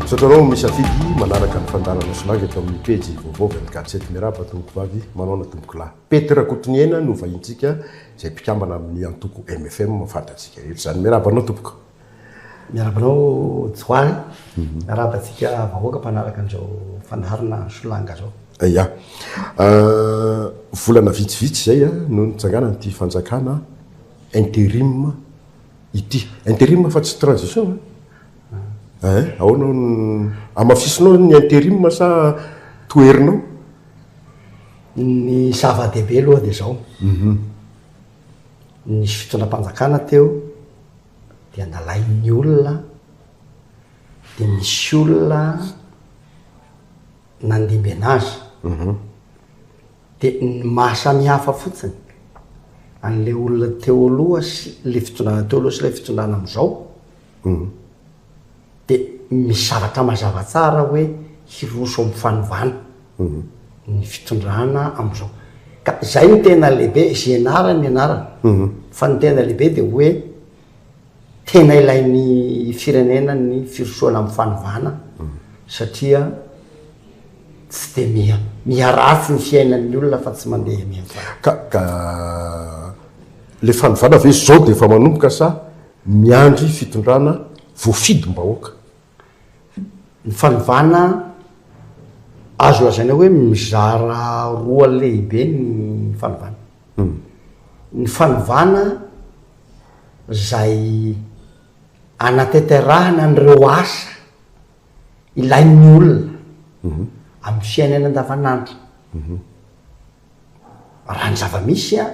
Misaotra anao misafidy manaraka ny fandaharana Solange eto amin'ny pejy vaovao avy amin'ny Gadget. Miarahaba tompoko vavy, manaona tompoko lahy. Pety Rakotoniaina no vahintsika izay mpikambana amin'ny antoko MFM fantatsika rehetra izany. Miarahaba anao tompoko. Miarahaba anao Johary, miarahaba antsika vahoaka mpanaraka an'izao fandaharana Solanga izao. Ya, volana vitsivitsy izay no nitsanganan'ity fanjakana interim ity. Interim fa tsy transition a? Ein, ahoana no hamafisinao ny interim sa toherinao? Ny zava-dehibe aloha dia izao, Nisy fitondram-panjakana teo dia nalain'ny olona dia nisy olona nandimbiana azy. Mhm. Dia ny maha samihafa fotsiny an'ilay olona teo aloha sy ilay fitondrana teo aloha sy ilay fitondrana amin'izao mhm. Dia misy zavatra mazava tsara hoe hiroso amin'ny fanovana ny fitondrana amin'izao. Ka izay no tena lehibe, izay ianarany ny anarany. Fa ny tena lehibe dia hoe tena ilain'ny firenena ny firosoana amin'ny fanovana satria tsy dia miha, miharatsy ny fiainan'ny olona fa tsy mandeha miha tsara. Ka, ka ilay fanovana ve izao dia efa manomboka sa Miandry fitondrana voafidim-bahoaka. Ny fanovana azo lazaina hoe mizara roa lehibe ny fanovana. Ny fanovana izay anatanterahana an'ireo asa ilain'ny olona amin'ny fiainany andavanandro. raha ny zava-misy an,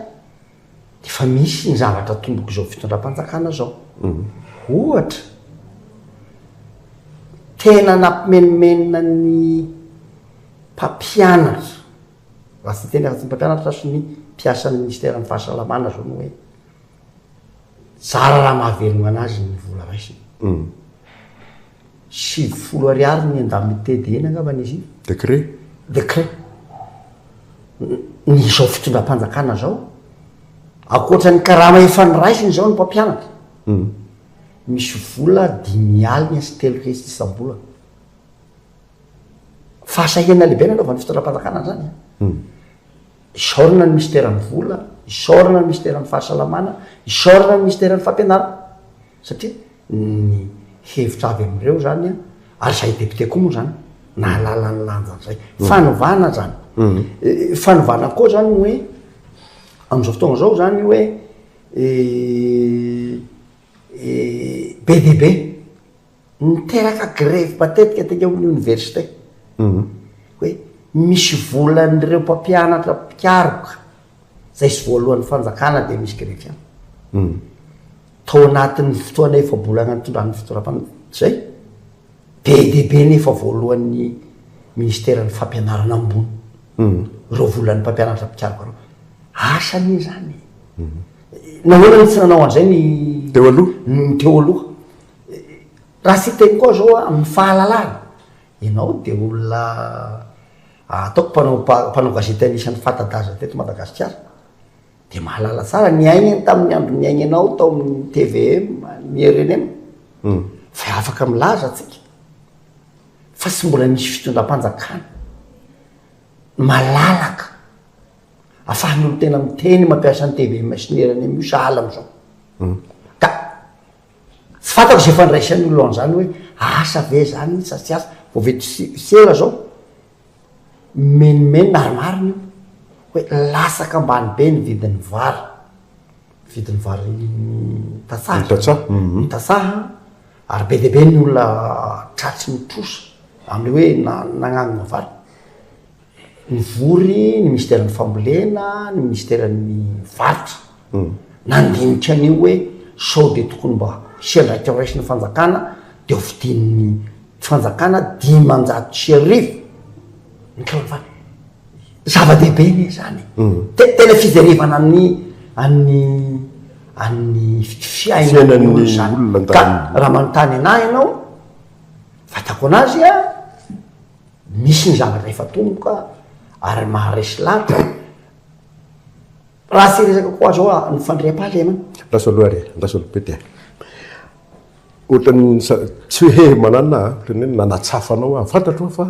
efa misy ny zavatra tombok'izao fitondram-panjakana izao. Ohatra, tena nampimenomenona ny mpampianatra, raha tsy ny teny afa-tsy ny mpampianatra fa ny mpiasan'ny minisiteran'ny fahasalamana izao ny hoe, Zara raha mahavelogna anazy ny vola raisiny. Sivy folo ariary ny indemnité de ina angambany izy io. Décret. Décret. Ny izao fitondram-panjakana izao, ankoatra ny karama efa noraisiny izao ny mpampianatra, misy vola dimy aligna sy telo hetsy isam-bolana. Fahasahiana lehibe ny anaovan'ny fitondram-panjakana an'izany an! Isaorana ny Minisiteran'ny Vola, isaorana ny Minisiteran'ny Fahasalamana, isaorana ny Minisiteran'ny Fampianarana satria ny hevitra avy amin'ireo izany, ary izahay député koa moa izany nahalala ny lanjany izay. Fanovana izany. Fanovana koa izany ny hoe amin'izao fotoana izao izany hoe be dia be. Niteraka grevy matetika teny amin'ny oniversite hoe misy volan'ireo mpampianatra mpikaroka izay tsy voaloan'ny fanjakana dia misy grevy ihany. Tao anatin'ny fotoana efa-bolana nitondran'ny fitondram-panjakana izay, be dia be ny efa voaloan'ny minisiteran'ny fampianarana ambony ireo volan'ny mpampianatra mpikaroka ireo. Asa anie izany e! Nahoana no tsy nanao an'izay ny teo aloha? Raha siteny koa zao a, amin'ny fahalalana, ianao dia olona ataoko mpanao mpanao gazety anisan'ny fanta-daza teto Madagasikara, dia mahalala tsara ny aignany tamin'ny andro niaignanao tao amin'ny tvm, ny rnm, fa afaka milaza tsika fa tsy mbola nisy fitondram-panjakana malalaka afahan'ny olon-tena miteny mampiasa ny tvm sy ny rnm io sahala amin'izao. Ka. Tsy fantako izay fandraisan'ny olona an'izany hoe asa ve izany sa tsy asa. Vao vita sera izao, mimenomenona ary marina io hoe latsaka ambany be ny vidin'ny vary, vidin'ny vary tantsaha, ny tantsaha, ny tantsaha ary be dia be ny olona tratry ny trosa amin'ny hoe na- nagnangona vary. Nivory ny minisiteran'ny fambolena, ny minisiteran'ny varotra, nandinika an'io hoe sao dia tokony mba hisy andraikitra raisin'ny fanjakana dia ho vidian'ny fanjakana dimanjato sy arivo ny kilaovato. Zava-dehibe anie izany e! Tena fijerevana an'ny an'ny an'ny fiainan'ny olona izany. Ka raha manontany an'ahy ianao, vatako an'azy an! Misy ny zavatra efa tomboka ary maharesy lahatra. Raha tsy resaka koa zao a, ny fandriampahalema. Andraso aloha ary e, andraso aloha Pety a. Ohatran'ny sa- tsy hoe he manana a, ohatran'ny hoe nanatsafa anao aho. Fantatro aho fa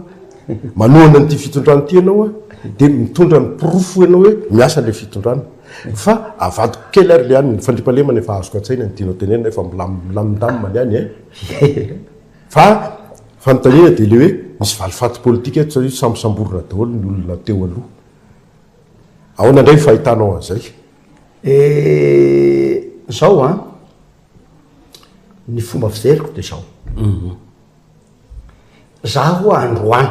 manohana an'ity fitondrana ity ianao a, dia mitondra ny porofo ianao hoe miasa ilay fitondrana. Fa avadiko kely ary le any, ny fandriampahalemana efa azoko an-tsaina ny tianao tenenina, efa milam- milamindamina ny any e. Fa fanontaniana dia ilay hoe misy valifaty politika eto satria samy samborina daholo ny olona teo aloha. Ahoana indray ny fahitanao an'izay? Eh, izao an, ny fomba fijeriko dia izao. Za ho'a androany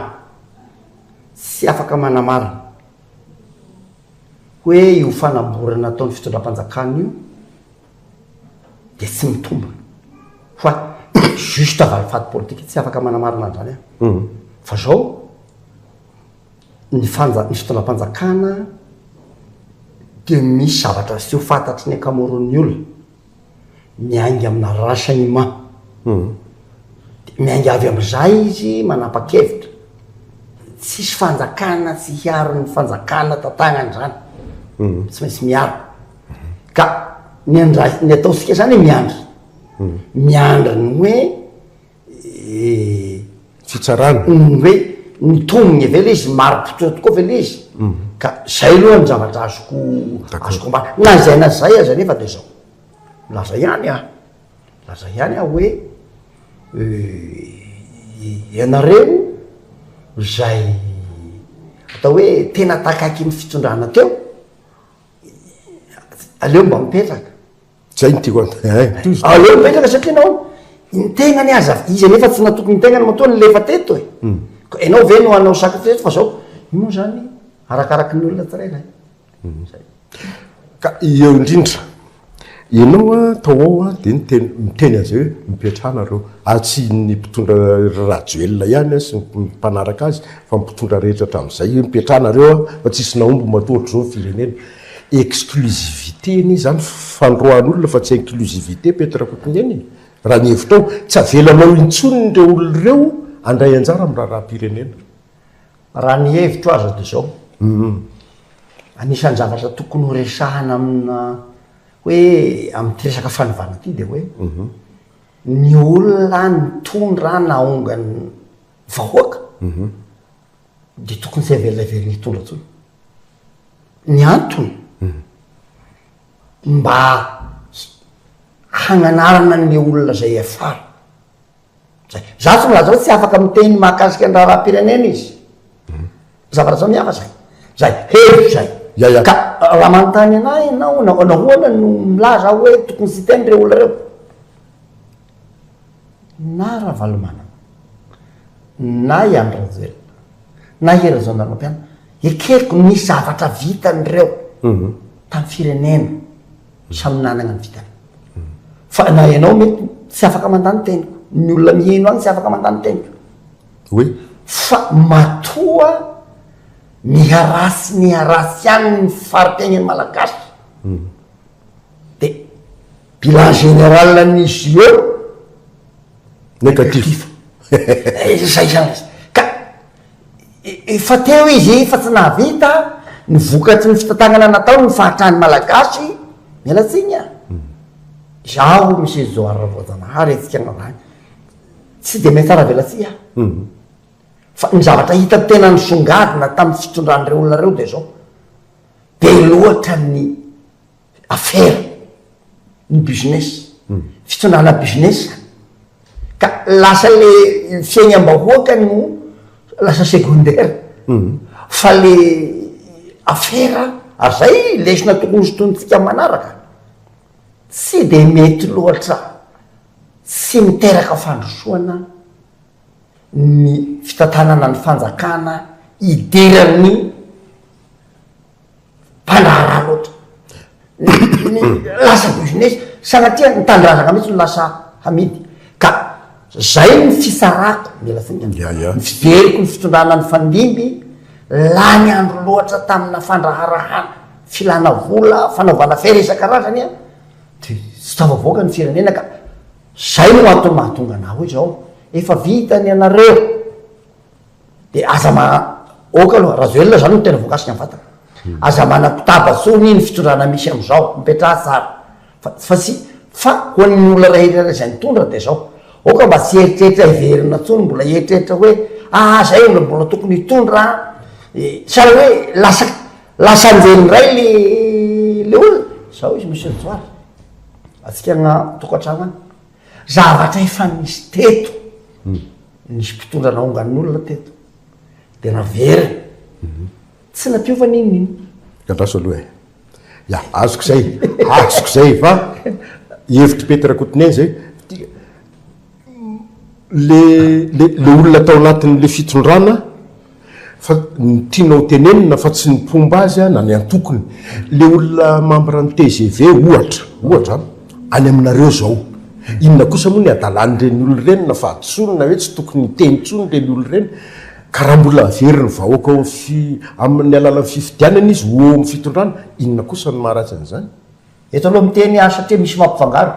tsy afaka manamarina hoe io fanamborana ataon'ny fitondram-panjakana io, dia tsy mitombina fa juste valifaty politika tsy afaka manamarina an'izany aho fa zao ny fanja ny fitondram-panjakana dia misy zavatra tsy ho fantatry ny ankamaroan'ny olona miainga amina renseignement dia miainga avy amin'izay izy manapa-kevitra tsisy fanjakana tsy hiaro ny fanjakana tantanany izany tsy maintsy miaro Ka ny andraik- ny ataontsika zany hoe miandry, miandry ny hoe Fitsarana. ny hoe ny tombony ave le izy, mari-pototra tokoa ve le izy? Ka zay aloha ny zavatra azoko azoko ambara. Na izay na izay aza nefa de zao, milaza ihany aho, milaza ihany aho hoe ianareo izay atao hoe tena takaiky ny fitondrana teo, Aleo mba mipetraka. Zay no tiako an- eh, tohizo. Aleo mipetraka satria ianao ny tegnany aza, izy anefa tsy natoky ny tegnany matoa nilefa teto e. Hmm. Ka ianao ve no hanao sacrifice eto fa zao? Io moa zany arakaraky ny olona tsirairay. Hmm. Zay. Ka eo indrindra. Ianao a, tao ao a, dia niteny, miteny an'izay hoe, mipetraha nareo, ary tsy ny mpitondra ry Rajoelina ihany a, sy ny mpanaraka azy, fa ny mpitondra rehetra hatramin'izay, hoe mipetraha nareo a, fa tsisy nahomby matoa hatrizao ny firenena. Exclusivité anie izany, fanoroahan'olona fa tsy inclusivité Pety Rakotonirina e! raha ny hevitrao, tsy avelanao intsony ireo olona ireo handray anjara amin'ny raharaham-pirenena. Raha ny hevitro aza dia izao, anisan'ny zavatra tokony ho resahana amina hoe amin'ity resaka fanovana ity dia hoe ny olona nitondra nahonga ny vahoaka dia tokony tsy haverina hiverina hitondra intsony. Ny antony mba hananarana ny olona izay hiafara. Zay. Za tonga zao tsy afaka miteny mahakasika ny raharaham-pirenena izy. Zavatra zao mihafa zay. Zay. Hevitro zay. Ya ya. Ka raha manontany anah ianao, na- nahoana no milaza aho hoe tokony tsy hiteny reo olona reo? Na Ravalomanana, na i Andry Rajoelina, na i Hery Rajaonarimampianina, ekeko ny zavatra vitan'ireo tamin'ny firenena. Samy nanagna ny vitany. Fa na ianao mety tsy afaka mandà ny teniko, ny olona miheno agny tsy afaka mandà ny teniko. Oui. Fa matoa miharà sy miharà tsy agny ny fari-piaignan'ny Malagasy. Dia bilan général ny JO, négatif. Négatif. Izay zany izy. Ka. Efa teo izy fa tsy nahavita ny vokatry ny fitantanana nataony ny fahatran'ny Malagasy, miala tsiny a! Izaho Michel Johary Ravoajanahary hetsika anao zany tsy dia miha tsara velatsihy aho fa ny zavatra hitako tena nisongadina tamin'ny fitondran'ireo olona ireo dia izao, be loatra ny afera, ny business, fitondrana business ka lasa le fiainam-bahoaka no lasa secondaire fa le afera ary zay lesona tokony hosintonintsika manaraka tsy de mety loatra tsy miteraka fandrosoana ny fitantanana ny fanjakana hidiran'ny mpandraharaha loatra. Lasa business, sanatria ny tanindrazana mihitsy no lasa hamidy. Ka zay ny fitsarako, mila finiavana, ny fijeriko ny fitondrana nifandimby, lany andro loatra tamina fandraharahana, filana vola, fanaovana afera isan-karazany an, dia tsy tafavoaka ny firenena ka zay no antony mahatonga anah hoe zao, efa vita ny anareo. De aza ma ok aloha Rajoelina zany no tena voakasika ny vatana aza manakotaba tsony ny fitondrana misy amizao mipetraha tsara fa fa tsy fa ho an'ny olona ray iray izay mitondra de zao ok mba tsy eritreritra hiverina tsony mbola hieritreritra hoe ah zay olona mbola tokony hitondra eh sa hoe lasa lasa anjely ndray le le olona zao izy monsieur Johary atsika agna tokatrano agny Zavatra efa nisy teto, nisy mpitondra naongany ny olona teto dia naveriny, tsy nampiova n'inon'inona. Andraso aloha e! Ya, azoko izay, azoko izay fa hevitry Pety Rakotonena izay, le le olona tao anatin'le fitondrana, Fa ny tianao tenenina fa tsy ny mpomba azy na ny antokony. Le olona membre ny tgv ohatra, ohatra an, any aminareo zao, inona kosa moa ny adalan'ireny olona ireny na fahadisoany na hoe tsy tokony hiteny intsony ireny olona ireny? Ka raha mbola averiny vahoaka ao amin'ny alalan'ny fifidianana izy ho eo amin'ny fitondrana, inona kosa no maharatsy an'izany? Eto aloha miteny aho satria misy mampifangaro.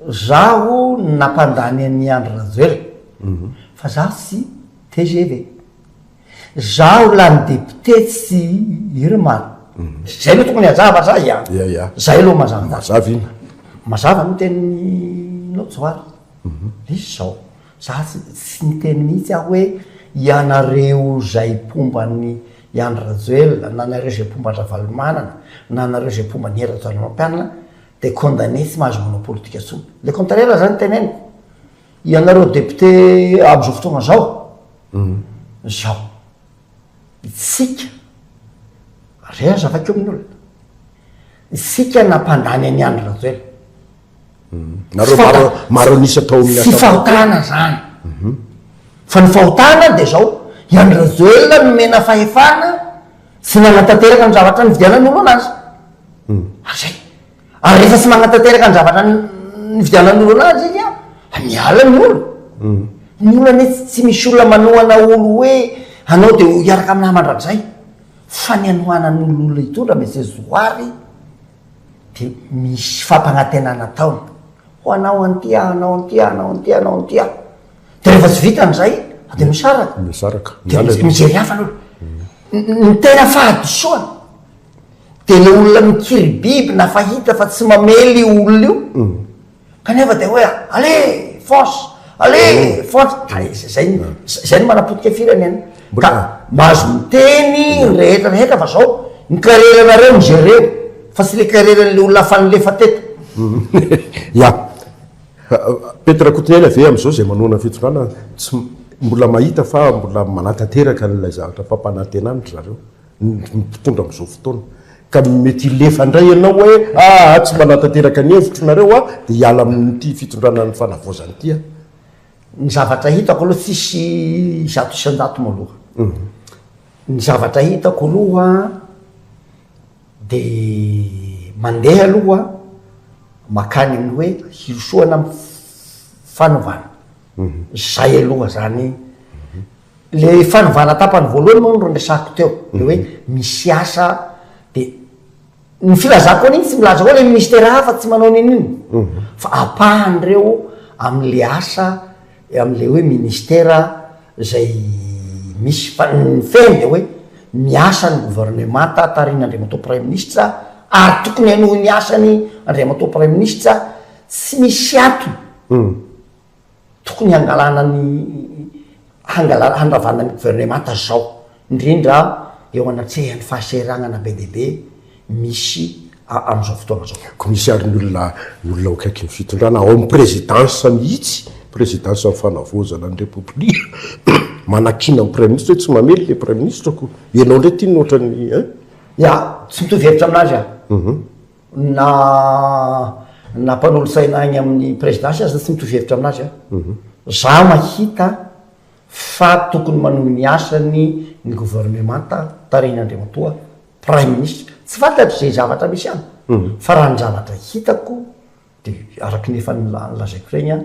Zaho no nampandany an'i Andry Rajoel fa zaho tsy tgv. Zaho lany député tsy Irmar. Zay no tokony hajava sa ia? Zay aloha mazava daty. Mazava iny. Mazava ny teninao Johary. Misy izao, za tsy niteny mihitsy aho hoe ianareo izay mpomba an'i Andry Rajoel na nareo izay mpomba an-dRavalomanana na nareo izay mpomba an'i Hery Rajaonarimampianina, dia condamné tsy mahazo manao politika intsony. Le contraire aza ny teneniko. Ianareo député amin'izao fotoana izao, izao. Isika, re aza vakio amin'ny olona. Isika nampandany an'i Andry Rajoelina. Nareo maro maro an'isa tao amin'ny Assemblée. Tsy fahotana izany. Fa ny fahotana dia izao, i Andry Rajoelina nomena fahefana, Tsy nanatanteraka ny zavatra nividianan'olona azy. Ary zay. Ary rehefa tsy manatanteraka ny zavatra nividianan'olona azy izy an, miala ny olona. Ny olona anie tsy tsy misy olona manohana olo hoe anao de ho hiaraka aminah mandrakizay. Fa ny anohanan'olona hitondra Monsieur Zoary de misy fampanantenana ataony. Ho anao an'ity aho, anao an'ity aho, anao an'ity aho, anao an'ity aho. Dia rehefa tsy vitany izay dia misaraka. Misaraka. Dia mijery hafa aloha. Ny tena fahadisoana dia ilay olona mikiribiby na fa hita fa tsy mamely io olona io kanefa dia hoe allez fonce, allez fonce, ka izay no, izay no manapotika firenena. Ka mahazo miteny ny rehetra rehetra fa izao ny kareranareo no jereo fa tsy ilay kareran'ilay olona hafa nilefa teto. Ia. Pety Rakotoniaina ve amin'izao izay manohana ny fitondrana tsy mbola mahita fa mbola manatanteraka an'ilay zavatra fampanantenana ry zareo ny mpitondra amin'izao fotoana ka mety hilefa indray ianao hoe aa tsy manatanteraka ny hevitro nareo aho dia hiala amin'ity fitondrana ny fanavaozana ity aho. Ny zavatra hitako aloha tsisy zato isan-jato moa aloha. Ny zavatra hitako aloha. Dia mandeha aloha makany amin'ny hoe hirosoana amin'ny fanovana. Izay aloha izany. Ilay fanovana tapany voalohany moa no resahiko teo, ilay hoe misy asa dia ny filazako an'iny tsy milaza hoe ilay ministera hafa tsy manao an'iny iny fa ampahan'ireo amin'ilay asa. Amin'ilay hoe ministera izay misy fa ny fehiny dia hoe miasa ny governemanta tarihin'Andriamatoa Praiminisitra ary tokony hanohy ny asany Andriamatoa Praiminisitra, tsy misy antony tokony hangalana ny hangalana handravana ny governemanta izao. indrindra eo anatrehan'ny fahasahiranana be dia be misy amin'izao fotoana izao. Koa misy àry ny olona, ny olona ao akaikin'ny fitondrana, ao amin'ny prezidansa mihitsy, prezidansan'ny Fanavaozana ny Repoblika, manakiana ny Praiminisitra hoe tsy mamely ilay Praiminisitra koa. Ianao indray ity no ohatran'ny ein? Ia, tsy mitovy hevitra amin'azy aho. Na na mpanolotsaina any amin'ny prezidansa aza tsy mitovy hevitra amin'azy aho. Izaho mahita fa tokony manohy ny asany ny governemanta tarihin'Andriamatoa Praiminisitra. Tsy fantatro izay zavatra misy any, fa raha ny zavatra hitako dia araka ny efa nolazaiko ireny an,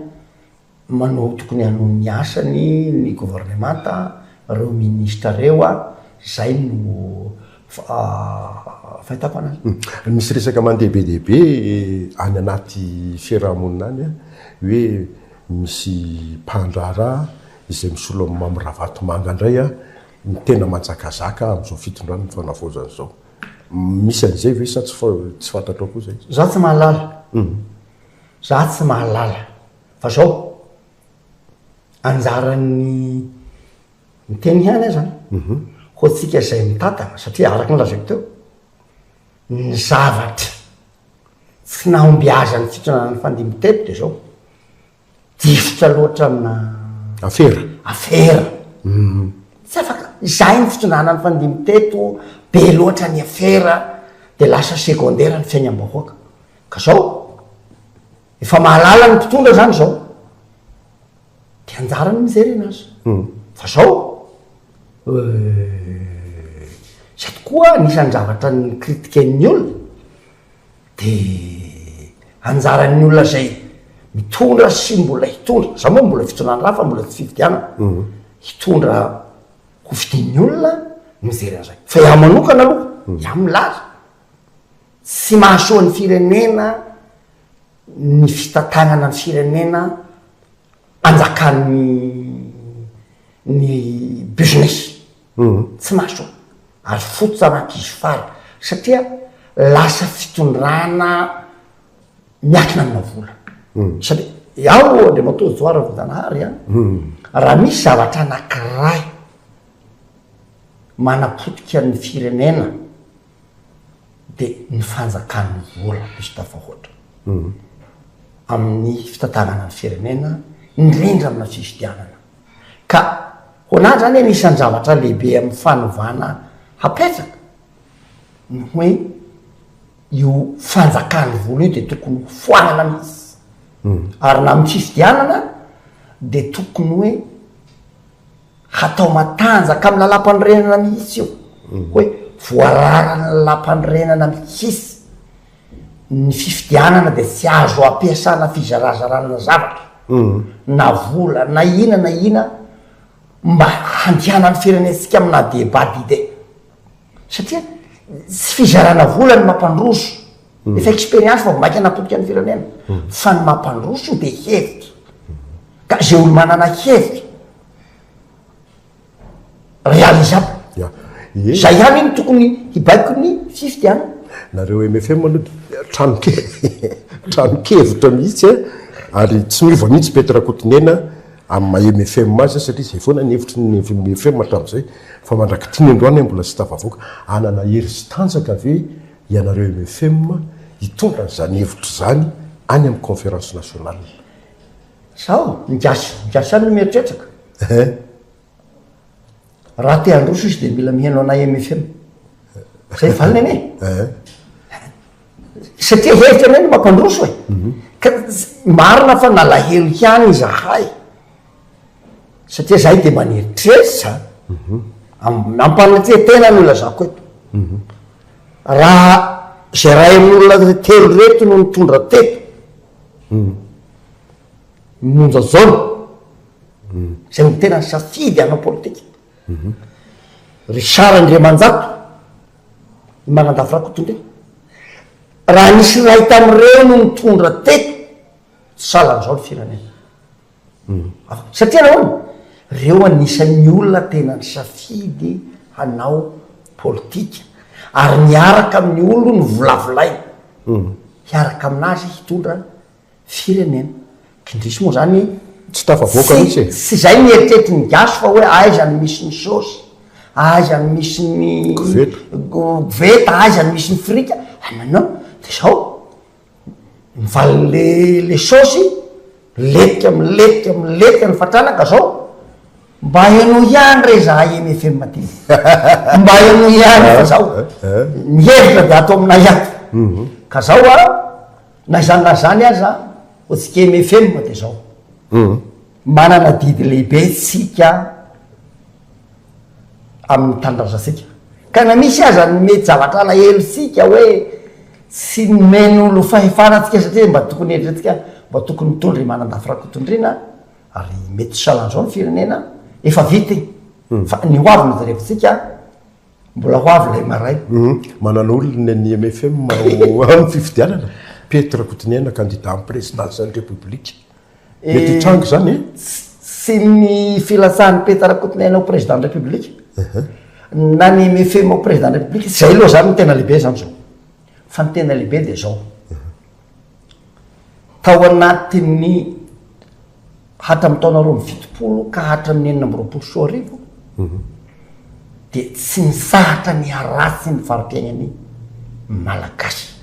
manohy tokony hanohy ny asany ny governemanta, ireo minisitra ireo an, izay no Fahitako an. Misy resaka mandeha be dia be any anaty fiarahamonina any hoe misy mpandraharaha izay misolo amin'i Mamy Ravatomanga indray no tena manjakazaka amin'izao fitondrana ny fanavaozana izao. Misy an'izay ve sa tsy fantatrao koa izay? Izaho tsy mahalala. Izaho tsy mahalala. Fa izao, anjaran'ny Miteny ihany aza ho antsika izay mitantana, satria araka ny lazaiko teo, ny zavatra tsy nahombiazantsika nanao nifandimby teto dia izao, difotra loatra amina afera, afera, tsy afaka, izahay ny fitondrana nifandimby teto, be loatra ny afera, dia lasa secondaire ny fiainam-bahoaka, ka izao, efa mahalala ny mpitondra izany izao, De anjarany mijery anazy. Fa zao euh zay tokoa anisan'ny zavatra nicritiquen'ny olona de anjaran'ny olona zay mitondra sy mbola hitondra, za moa mbola fitondrana ra fa mbola tsy fifidianana, hitondra hofidin'ny olona mijery an'zay. Fa iah manokana aloha, iah milaza, tsy mahasoa ny firenena ny fitantanana ny firenena anjakan'ny ny business tsy mahasoa ary fototra an'ankizy fara satria lasa fitondrana miakina amina vola satria iaho andriamatoa Johary Ravedanahary a raha misy zavatra anankiray manapotika ny firenena dia ny fanjakan'ny vola diso tafahoatra amin'ny fitantanana ny firenena, indrindra amina fifidianana. Ka hoanahy izany anisan'ny zavatra lehibe amin'ny fanovana hapetraka ny hoe io fanjakan'ny vola io dia tokony ho foanana mihitsy. Ary na amin'ny fifidianana dia tokony hoe Hatao matanjaka amin'ny lalàmpanorenana mihitsy io, hoe voararan'ny lalàmpanorenana mihitsy ny fifidianana dia tsy azo ampiasana fizarazarana zavatra na vola na ina na ina mba handianan'ny firenentsika amina débat d'idées satria tsy fizarana vola no mampandroso. Efa expérience vao maika napotika ny firenena fa ny mampandroso dia hevitra ka zay olo manana hevitra realisable zay ihany no tokony hibaiko ny fifty an nareo MFM aloha dia tranoke tranokevitra mihitsy a ary tsy miova mihitsy Pety Rakotonena amin'ny maha MFM azy satria izay foana ny hevitry ny MFM hatramin'izay fa mandrak'ity ny androany mbola tsy tafavoaka hanana hery sy tanjaka ve ianareo mfm hitondra an'izany hevitra izany any amin'ny conférence nationale. Sao ny gasy gasy ihany no mieritrertraka? Eeh. Raha te handroso izy dia mila miheno anay mfm. Izay valiny anie e. Eeh. Satria hevitra anay no mampandroso e. Ka marina fa nalahelo ihany izahay. satria zahay de mba nieritreritra am- ampanetreha tena no ilazako eto raha zay ray aman'olona telo reto no nitondra teto ny monja jaona zay no tena nisafidy hanao politika richard andriamanjato i manandafy rakotondria raha nisy iray tamin'ireo no nitondra teto tsy salan'izao ny firenena Satria nahoana? Reo anisan'ny olona tena nisafidy hanao politika ary miaraka amin'ny olony novolavolainy hiaraka aminazy hitondra firenena. Kindrisy moa zany tsy tafavoaka mihitsy e! Tsy zay ny eritreritrin'ny gasy fa hoe aiza no misy ny sôsy, aiza no misy ny koveta, aiza no misy ny frity, ah non non, de zao Mivaly le le saosy, miletika miletika miletika ny fatrana ka zao, mba ianao ihany re zahay eny FM aty, mba ianao ihany fa zao ny hevitra de ato aminay ato, mhm. ka zao a, na izany na izany aza antsika eny FM de zao, mhm. manana adidy lehibe tsika. amin'ny tanindrazantsika ka na misy aza ny mety zavatra alahelontsika hoe tsy nomen'olo fahefana antsika satria mba tokony eritreretintsika mba tokony mitondra i Manandafy Rakotondriana ary mety tsy salan'izao ny firenena efa vita e fa ny hoavy no jerevintsika mbola hoavy ilay maray Manana olona ny mfm ao amin'ny fifidianana? Pety Rakotoniaina candidat amin'ny présidence ny République. Mety hitranga izany e? Tsy ny filatsahan'i Peta Rakotonaina ho président de la République na ny MFM ho président de la République, izay aloha izany no tena lehibe izany izao. Fa ny tena lehibe dia izao, tao anatin'ny hatramin'ny taona roa amby fitopolo ka hatramin'ny enina amby roapolo sy roa arivo, dia tsy mitsahatra ny haratsy ny fari-piainan'ny Malagasy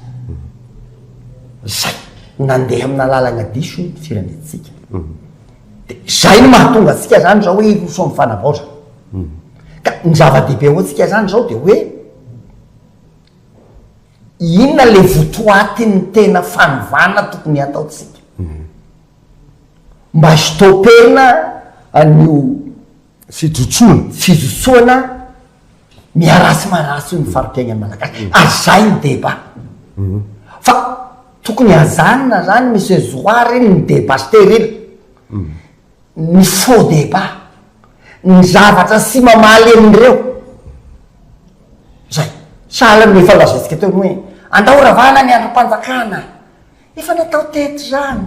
izay nandeha amina lalana diso ny firenentsika. Dia izay no mahatonga antsika izany izao hoe hiroso amin'ny fanavaozana. Ka ny zava-dehibe ho antsika izany izao dia hoe inona ilay votoatin'ny tena fanovana tokony hataontsika mba hi-stopper-na an'io fijotsoana. Fijotsoana miharatsy maharatsy ny fari-piainan'ny Malagasy. Ary zay ny débat. Fa tokony hajanona zany Monsieur Zoara iny ny débat stérile. Ny faux débat. Ny zavatra tsy mamaly an'ireo. Zay. Sahala amin'efa nolazaintsika teo ny hoe, andao ravana ny andrim-panjakana. Efa natao teto izany.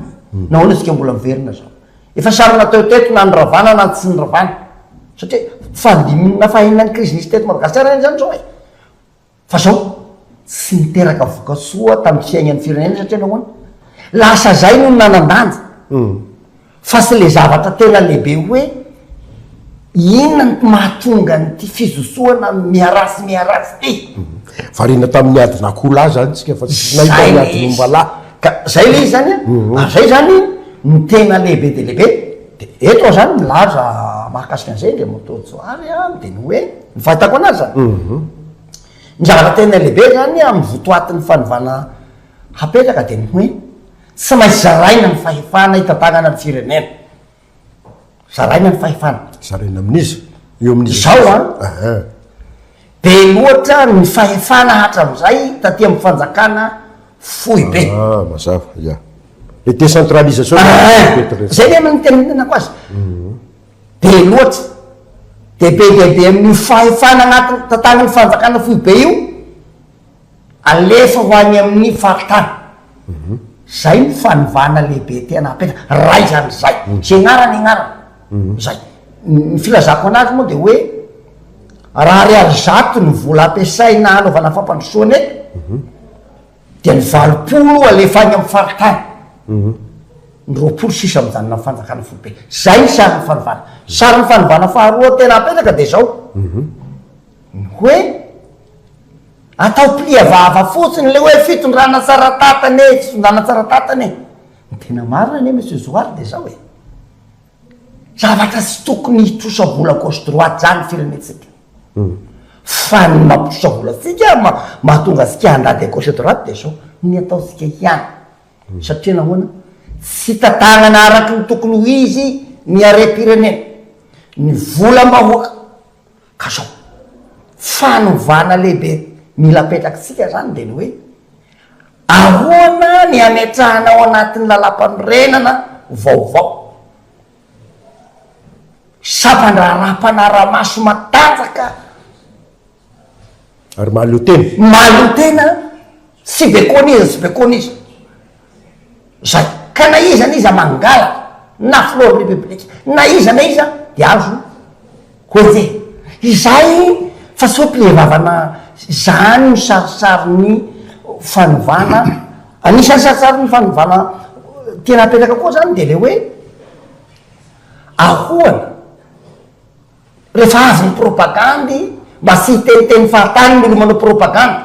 Nahoana isika mbola miverina izao? Efa samy natao teto na ny ravana na ny tsy ny ravana. Satria fahadimy na fahenina ny krizy nisy teto Madagasikara ihany izany izao e! Fa izao tsy niteraka vokatsoa tamin'ny fiainan'ny firenena satria nahoana? Lasa izay no nanan-danja. Fa sy le zavatra tena lehibe hoe inona no mahatonga an'ity fizosoana miaraha sy miaraha tsy ity. Variana tamin'ny adin'akoho lahy zany tsika fa tsy nahy tamin'ny adin'omba lahy. Ka zay le izy zany a, ary zay zany no tena lehibe dia lehibe. De eto zany milaza mahakasika an'izay Andriamatoa Johary a, de ny hoe, ny fahitako anazy zany, ny zavatra tena lehibe zany amin'ny votoatin'ny fanovana hapetraka de ny hoe, Tsy maintsy zaraina ny fahefana hitantanana ny firenena. Zaraina ny fahefana. Zaraina amin'iza? Eo amin'iza? Izao an. Aha. Be loatra ny fahefana hatramin'izay taty amin'ny fanjakana foibe. Ah, mazava, ia. Le décentralisation. Aha, zay le nitenenenako azy. Be loatra. Dia be dia be amin'io fahefana anatin'ny tantanan'ny fanjakana foibe io. Alefa ho any amin'ny faritany. Izay no fanovana lehibe tena apetraka. Raha izany izay. Izay anarany anarany. Izay. Ny filazako an'azy moa dia hoe, raha ariary zato ny vola ampiasaina hanaovana fampandrosoana eto, dia ny valopolo alefa any amin'ny faritany. Ny roapolo sisa mijanona amin'ny fanjakana foibe. Izay ny sarin'ny fanovana. Sarin'ny fanovana faharoa tena apetraka dia izao. Ny hoe, atao plia vava fotsiny ilay hoe fitondrana tsara tatana e, fitondrana tsara tatana e. Ny tena marina anie Monsieur Johary dia izao e, zavatra tsy tokony hitrosa-bola gauche droite izany ny firenentsika. Fa ny mampitrosa-vola antsika, mahatonga antsika handady à gauche à droite dia izao, ny ataontsika ihany. Satria nahoana? Tsy tantànana araka ny tokony ho izy ny harem-pirenena, ny volam-bahoaka. Ka zao, fanovana lehibe mila apetrak'tsika izany dia ny hoe, ahoana ny ametrahana ao anatin'ny lalàmpanorenana vaovao sampandraharaha mpanara-maso matanjaka, Ary mahaleo tena. Mahaleo tena tsy bekona iza tsy bekona iza zay ka na iza na iza mangalaka na filohan'ny repoblika na iza na iza de azo hoehe izay fa tsy hoe mpilevavana zany no sarisarin'ny fanovana anisan'ny sarisarin'ny fanovana tena apetraka koa zany de le hoe ahoana Rehefa avy ny propagandy, mba tsy hiteniteny fahatany ireo manao propagandy.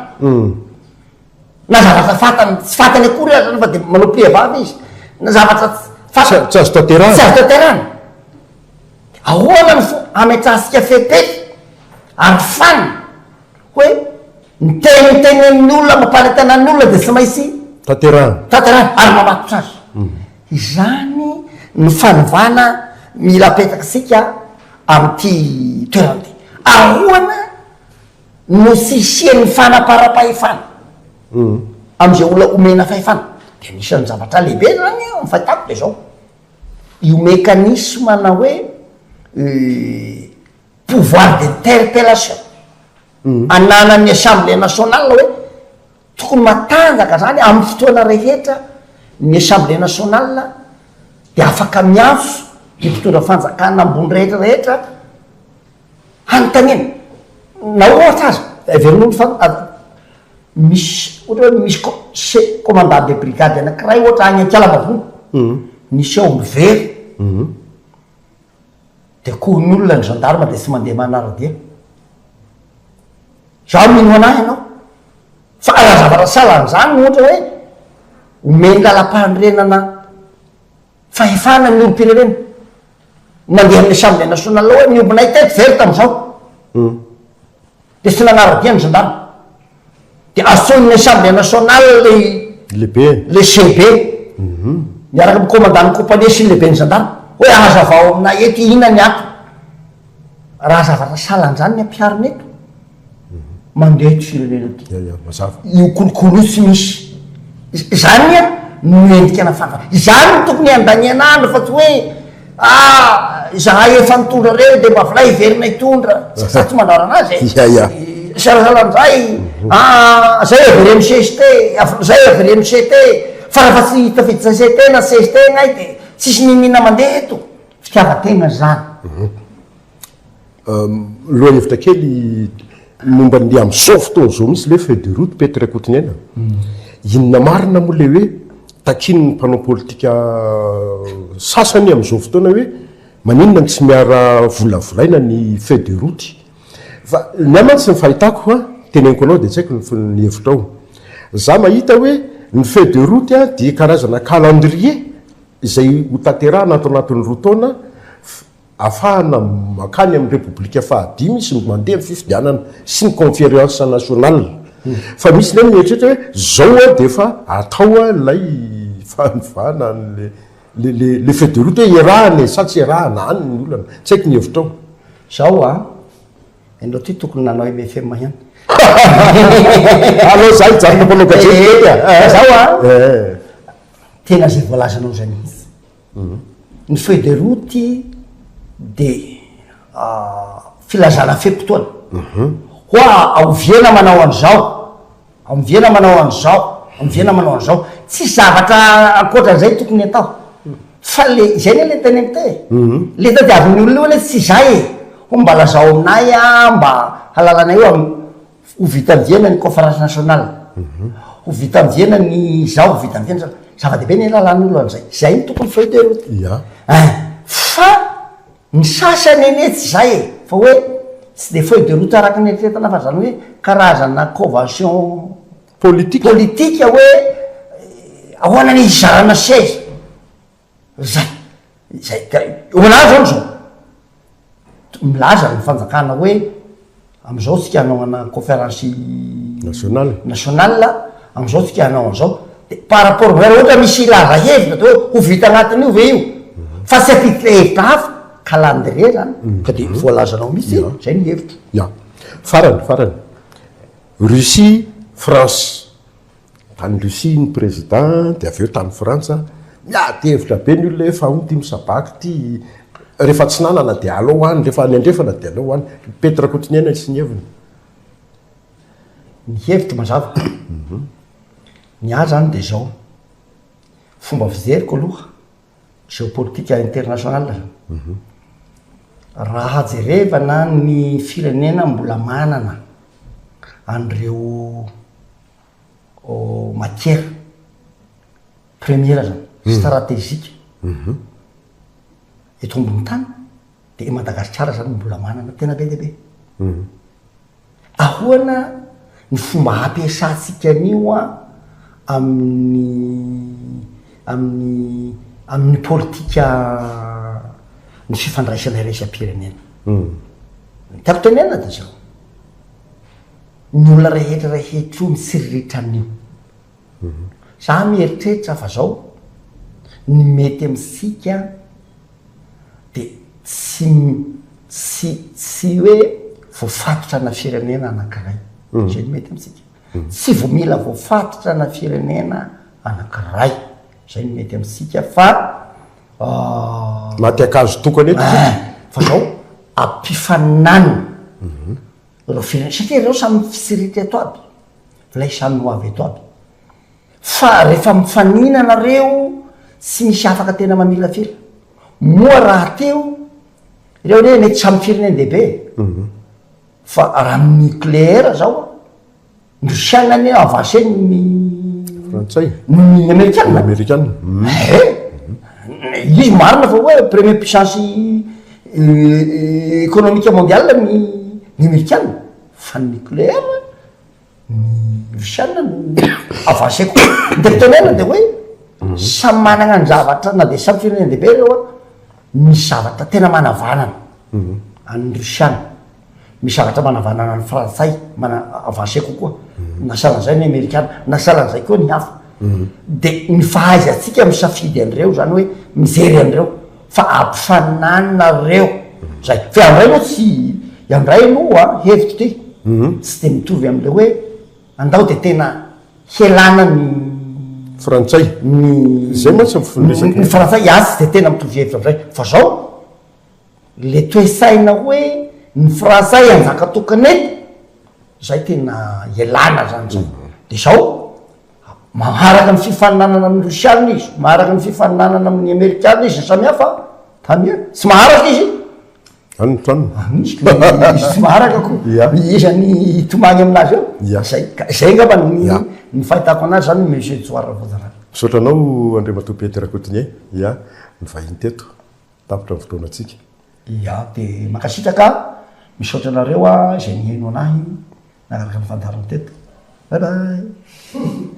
Na zavatra fantany, tsy fantany akory aza nefa dia manao pihevava izy. Na zavatra fantany. Tsy azo tanterahana. Tsy azo tanterahana. Ahoana no fomba hametrahantsika fepetra, arofana, hoe Ny tenitenen'ny olona amam-paritana ny olona dia tsy maintsy Tanterahina. tanterahina ary mamatotra azy. Izany no fanovana mila apetratsika amin'ity toerana ity. Ahoana no tsy hisian'ny fanaparam-pahefana amin'izay olona omena fahefana? Dia anisan'ny zavatra lehibe izany an, ny fahitako dia izao, io mekanisme-na hoe pouvoir d'interpellation ananan'ny Assemblée nationale hoe tokony matanjaka zany amin'ny fotoana rehetra ny Assemblée nationale de afaka miantso ny mpitondra fanjakana ambony rehetra rehetra hanontaniana na ohatra aza heverina ny fa misy ohatra hoe misy ko se commandant de brigade anakiray ohatra any Ankialamavony niseho miverina Dia kohonolona ny gendarme dia tsy mandeha manaradia. Izaho mino anà ianao. Fa raha zavatra sahala an'izany no ohatra hoe omen'ny lalam-panorenana fahefana ny olom-pirenena, mandeha amin'ny Assemblée nationale hoe miombonay teto very tamin'izao. dia tsy nanara-dia ny zandary, dia antsoin'ny Assemblée nationale ilay Lehibe. ilay CB, miaraka amin'ny Commandant-n'ny compagnie sy ny Lehiben'ny zandary, hoe hazavao aminay eto inona ny antony, raha zavatra salan'izany ny ampiharina eto, mandeha eto firenena aty, Ia, ia, mazava. io kolikoly io tsy misy, izany no endrika nafantatra, izany no tokony handaniana andro fa tsy hoe Ah! Izahay efa nitondra ireny dia mba avelay hiverina hitondra, tsy za tsy mandrarana azy e! Ia ia. Salasala amin'izay, ah! Zay avereno CST, zay avereno CT, fa raha fa tsy tafiditra CST na CST ianay dia tsisy mimina mandeha eto! Fitiavan-tena izany. Lohahevitra kely momba ny amin'izao fotoana izao mihitsy ilay feuille de route Petr Rakotoniaina. Inona marina moa ilay hoe takian'ny mpanao politika sasany amin'izao fotoana hoe maninona no tsy miara volavolaina ny feuille de route? Fa ny ahy mantsy ny fahitako an, teneniko anao dia tsy haiko ny hevitrao. Za mahita hoe ny feuille de route dia karazana calendrier izay hotanterahina ato anatin'ny roa taona, Afahana mankany amin'ny Repoblika faha dimy sy mandeha ny fifidianana sy ny Conference Nationale. Fa misy indray mieritreritra hoe zao dia efa atao ilay fanovana an'ilay ilay feuille de route hoe iarahana e sa tsy iarahana? Any ny olana. Tsy haiko ny hevitrao. Zao an! Ianao ity tokony nanao MFM ihany. Alao za hijanona mpanao gazety kely an! Fa zao an! Tena izay voalazanao izay mihitsy. Ny feuille de route dia filazana fe-potoana. Hoa aoviana manao an'izao, aoviana manao an'izao, aoviana manao an'izao. Tsisy zavatra ankoatran'izay tokony atao. Fa ilay, izay anie ilay tena important e. Ilay tadiavin'ny olona io anie tsy izay e. Hoa mba lazao aminay an, mba halalanay io amin'ny. Ho vitan'ny diana ny Conference Nationale, ho vitan'ny diana ny izao, ho vitan'ny diana izao. Zava-dehibe ny halalan'olona an'izay. Izay no tokony feuille de route. Ia. Ein! Fa ny sasany anie tsy izay e! Fa hoe tsy dia feuille de route araka ny eritreretana fa izany hoe karazana convention Politika. politika hoe ahoana ny hizarana seza. Zay, zay ka hoanahy zany zao, milaza ny fanjakana hoe amizao tsika hanao ana conférence nationale nationale amizao tsika hanao anizao, de par rapport amizay raha ohatra misy hilaza hevitra de hoe ho vita anatin'io ve io, fa tsy hampiditra hevitra hafa, calendrier zany, ka de voalazanao mihitsy hoe zay ny hevitro. Ya, farany, farany, Russie, France. Tany Russie ny prezida dia avy eo tany Frantsa, miady hevitra be ny olona hoe fa hono ity misabaky ity, rehefa atsinanana dia aleo any, rehefa any andrefana dia aleo any. I Pety Rakotoniaina sy ny heviny. Ny hevitro mazava. Ny ahy izany dia izao, fomba fijeriko aloha. Géopolitique internationale, raha jerevana ny firenena mbola manana an'ireo matières premières zany, stratégiques eto ambony tany, Dia Madagasikara izany no mbola manana tena be dia be. Ahoana ny fomba ampiasantsika an'io amin'ny amin'ny amin'ny politika ny fifandraisana iraisam-pirenena. Ny tiako tenenina dia izao, ny olona rehetra rehetra io mitsiriritra an'io. Izaho mieritreritra fa izao, ny mety amintsika, dia tsy tsy tsy hoe voafatotra ana firenena anankiray. Izay no mety amintsika. Tsy vao mila voafatotra ana firenena anankiray. Izay no mety amintsika fa Maty ankazo tokana eto isika. Fa izao, ampifaninanina ireo firenena, satria ireo samy fitsiritra eto aby, ilay samy ho avy eto aby. Fa refa mifanina nareo tsy misy afaka tena mamilafila moa raha teo ireo anie mety samy firenen dehibe fa raha ny nucleaire zao ndry chine anie avancé noho ny frantsay noho ny amerikana amerikana ehe izy marina fa hoe premier puissance economique mondiale ny ny amerikana fa ny nucleaire ny russiana no avancer kokoa, de ny tenenina de hoe samy managna ny zavatra na de samy firenena dehibe reo an, misy zavatra tena manavanana an'ny russiana, misy zavatra manavanana an'ny frantsay mana- avancer kokoa, na sahala an'izay ny amerikana, na sahala an'izay koa ny hafa, de ny fahaizantsika misafidy an'ireo zany hoe mijery an'ireo, Fa ampifaninany nareo zay. Fa ianray moa tsy, ianray moa hevitro ty tsy dia mitovy amin'ilay hoe andao dia tena helana ny. Frantsay. Ny. Izay mantsy ny fon'ny resaka. Ny frantsay iany tsy dia tena mitovy hevitra amin'izay. Fa zao, le toe-saina hoe ny frantsay hanjaka tokana eto, zay tena ialana zany zay. Dia zao, Maharaka ny fifaninanana amin'ny Rosiana izy, maharaka ny fifaninanana amin'ny Amerikana izy, samy hafa an, tsy maharaka izy, izy tsy maharaka ko, iza ny hitomany amin'azy eo, zay, zay angamba ny fahitako an'azy zany Monsieur Edouard Rakotondrana. Misaotra anao Andriamatoa Pety Rakotonia, ya, nivahiny teto, tapitra ny fotoanantsika. Ya, dia mankasitraka, misaotra anareo izay niheno an'ahy. Araka ny fandaharana teto. Bye bye.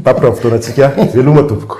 Tapitra ny fotoanantsika. Veloma tompoko.